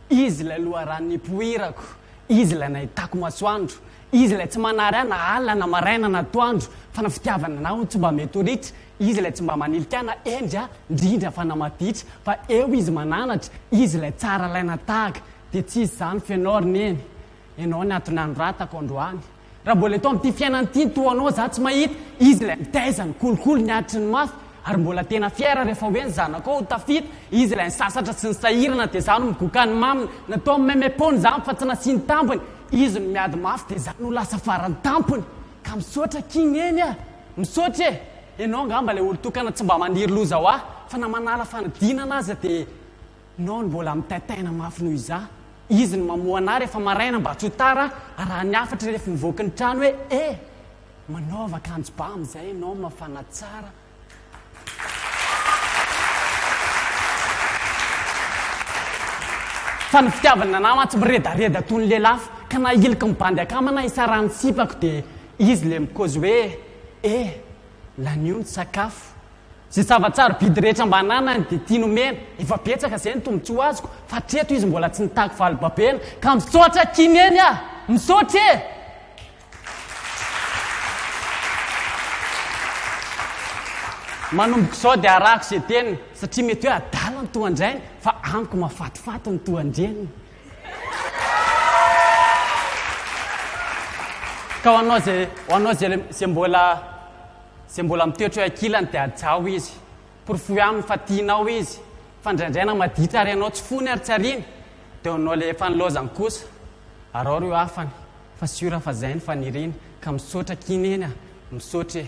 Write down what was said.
Izy ilay loharano nipoirako, Izy ilay nahitako masoandro, Izy ilay tsy manary ahy na alina na maraina na atoandro, fa ny fitiavana anao no tsy mba mety ho ritra, Izy ilay tsy mba manilika ahy na hendry aho, ndrindra fa na maditra, fa eo Izy mananatra, Izy ilay tsara alaina tahaka, dia tsisy zany feno aho ry neny, Ianao ny ato nanoratako androany Raha mbola eto amin'ity fiainana ity ny toa anao Za tsy mahita Izy ilay mitaiza ny kolikoly ny aditry ny mafy Ary mbola tena fier rehefa hoe ny zanakao ho tafita Izy ilay nisasatra sy nisahirana dia za no migoka ny maminy Natao meme pony izany fa tsy nasiany tambiny Izy no miady mafy dia za no lasa farany tampony Ka misaotra akia Neny a! Misaotra e! Ianao angamba ilay olon-tokana tsy mba maniry loza ho ahy Fa na manala fanadinana aza dia Nao no mbola mitaitaina mafy noho iza izy no mamoha anah rehefa maraina mba tsy ho tara arahan'ny hafatry rehefa mivoaka ny trano hoe e! manaova akanjo ba amin'izay ianao mafana tsara. Fa ny fitiavana anah mantsy miredareda toy ny lelafo ka na hiloky ny bandy akama na hisarahany ny sipako dia izy ilay mikaozy hoe e! lanio ny sakafo. Zay zava-tsarobidy rehetra mba ananany dia tiany omena, efa betsaka izay ny tombotsoa azoko fa hatreto izy mbola tsy nitaky vali-babena ka misaotra Kineny ah! Misaotra e! Manomboka izao dia arahako izay teniny satria mety hoe adala ny tohan-drainy fa amiko mahafatifaty ny tohan-dreniny. Ka ho anao izay, ho anao izay, izay mbola Izay mbola mitoetra eo ankilany dia hajao izy. Porofoy aminy fa tianao izy, fa indraindray na maditra ary ianao tsy fony ary tsy ariany dia ho anao ilay efa nilaozany kosa. Araho ireo hafany fa sûr fa izay no faniriany ka misaotra akia neny a! Misaotra e!